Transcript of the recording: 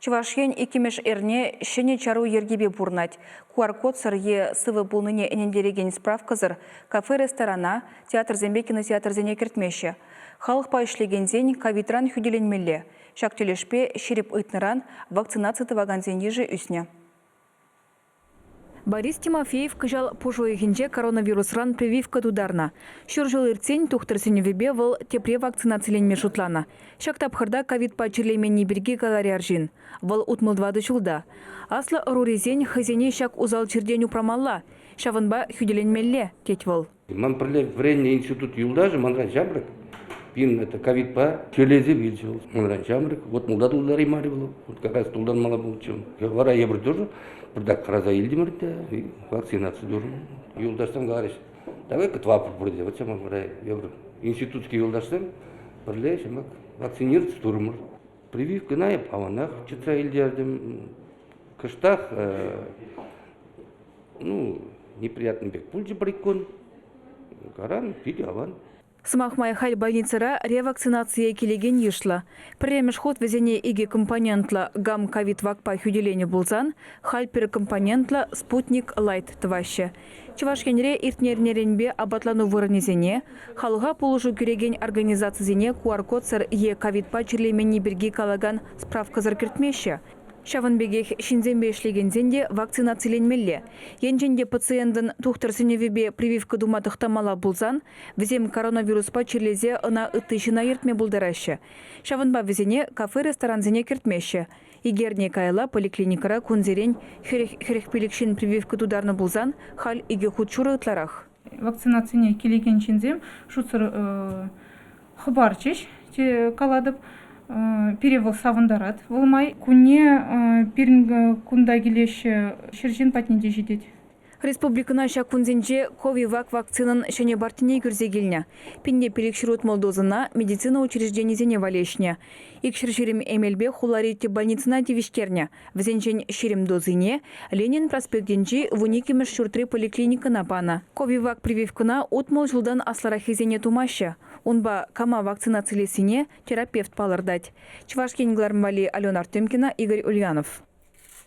Чӑваш Ен иккӗмӗш эрне ҫӗнӗ чару йӗркипе пурӑнать. QR-кодсӑр е сывӑ пулнине ӗнентерекен справкӑсӑр кафе-ресторана, театрсемпе кинотеатрсене кӗртмеҫҫӗ. Халӑхпа ӗҫлекенсен ковидран хӳтӗленмелле. Ҫак тӗлӗшпе ҫирӗп ыйтнӑран вакцинаци тӑвакансен йышӗ ӳснӗ. Борис Тимофеев кӑҫал пуш уйӑхӗнче коронавирусран прививка тутарнӑ. Ҫур ҫул иртсен тухтӑр сӗнӗвӗпе вӑл тепре вакцинациленме шутланӑ. Ҫак тапхӑрта ковидпа чирлеменни пирки каларӗ арҫын. Вӑл утмӑл тӑватӑ ҫулта. Аслӑ ӑрурисен хӑйсене ҫак усал чиртен упрамалла, ҫавӑнпа хӳтӗленмелле, тет вӑл. Ман пӗрле вӗреннӗ институт юлташӗ манран ҫамрӑк, пирӗн это ковидпа тӳлесе вилчӗ вӑл. Манран ҫамрӑк, вот мулта тултараймарӗ вӑл, вот как раз тултармалла пулчӗ. Вара эпир тоже пӗртак хӑраса илтӗмӗр те вакцинаци турӑм. Юлташсем каларӗҫ, давай катвапӑр пурте, вот ҫамрӑк вара эпир институтский юлташсем пӗрле ҫамрӑк вакцинироваться турӑмӑр. Прививкӑна эп аванах чӑтса илтертӗм. Кӑштах ну, неприятный пек пулчӗ иккун. Каран питӗ аван. Сӑмах май, халь больницӑра ревакцинацие килекен йышлӑ. Пӗрремӗш хут вӗсене икӗ компонентлӑ гам-ковид вакпа хӳтӗленӗ пулсан, халь пӗр компонентлӑ спутник Лайт тӑваҫҫӗ. Чӑваш Енре иртнӗ эрнеренпе апатлану вырӑнӗсене, халӑха пулӑшу кӳрекен организацисене QR-кодсӑр е ковидпа чирлеменни пирки калакан справкӑсӑр кӗртмеҫҫӗ. Ҫавӑн пекех ҫынсемпе ӗҫлекенсен те вакцинациленмелле. Енчен те пациентӑн тухтӑр сӗнӗвӗпе прививка тума тӑхтамалла пулсан, вӗсем коронавируспа чирлесе ӑна ытти ҫына ертме пултараҫҫӗ. Ҫавӑнпа вӗсене кафе-ресторансене кӗртмеҫҫӗ. Икерне каялла поликлиникӑра кунсерен хӗрӗх-хӗрӗх пилӗк ҫын прививка тутарнӑ пулсан, халь икӗ хут шурӑ ытларах. вакцинацине килекен ҫынсем шутсӑр хӑпарчӗҫ те калатӑп пире вӑл савӑнтарать вӑл май кунне пирӗн кунта килеҫҫӗ ҫӗр ҫын патне те ҫитет Республикӑна ҫак кунсенче ковивак вакцинӑн ҫӗнӗ партине кӳрсе килнӗ. Пинпе пилӗк ҫурут мӑл дозӑна медицина учрежденисене валеҫнӗ. Икҫӗр ҫирӗм эмелпе хулари тӗп больницӑна тивӗҫтернӗ. Вӗсенчен ҫирӗм дозине Ленин проспектӗнчи вун иккӗмӗш ҫуртри поликлиникӑна панӑ. Ковивак прививкӑна утмӑл ҫултан аслӑраххисене тумаҫҫӗ. Унпа кама вакцинацилессине терапевт палӑртать. Чӑваш Ен кӑларӑм валли Алена Артемкина, Игорь Ульянов.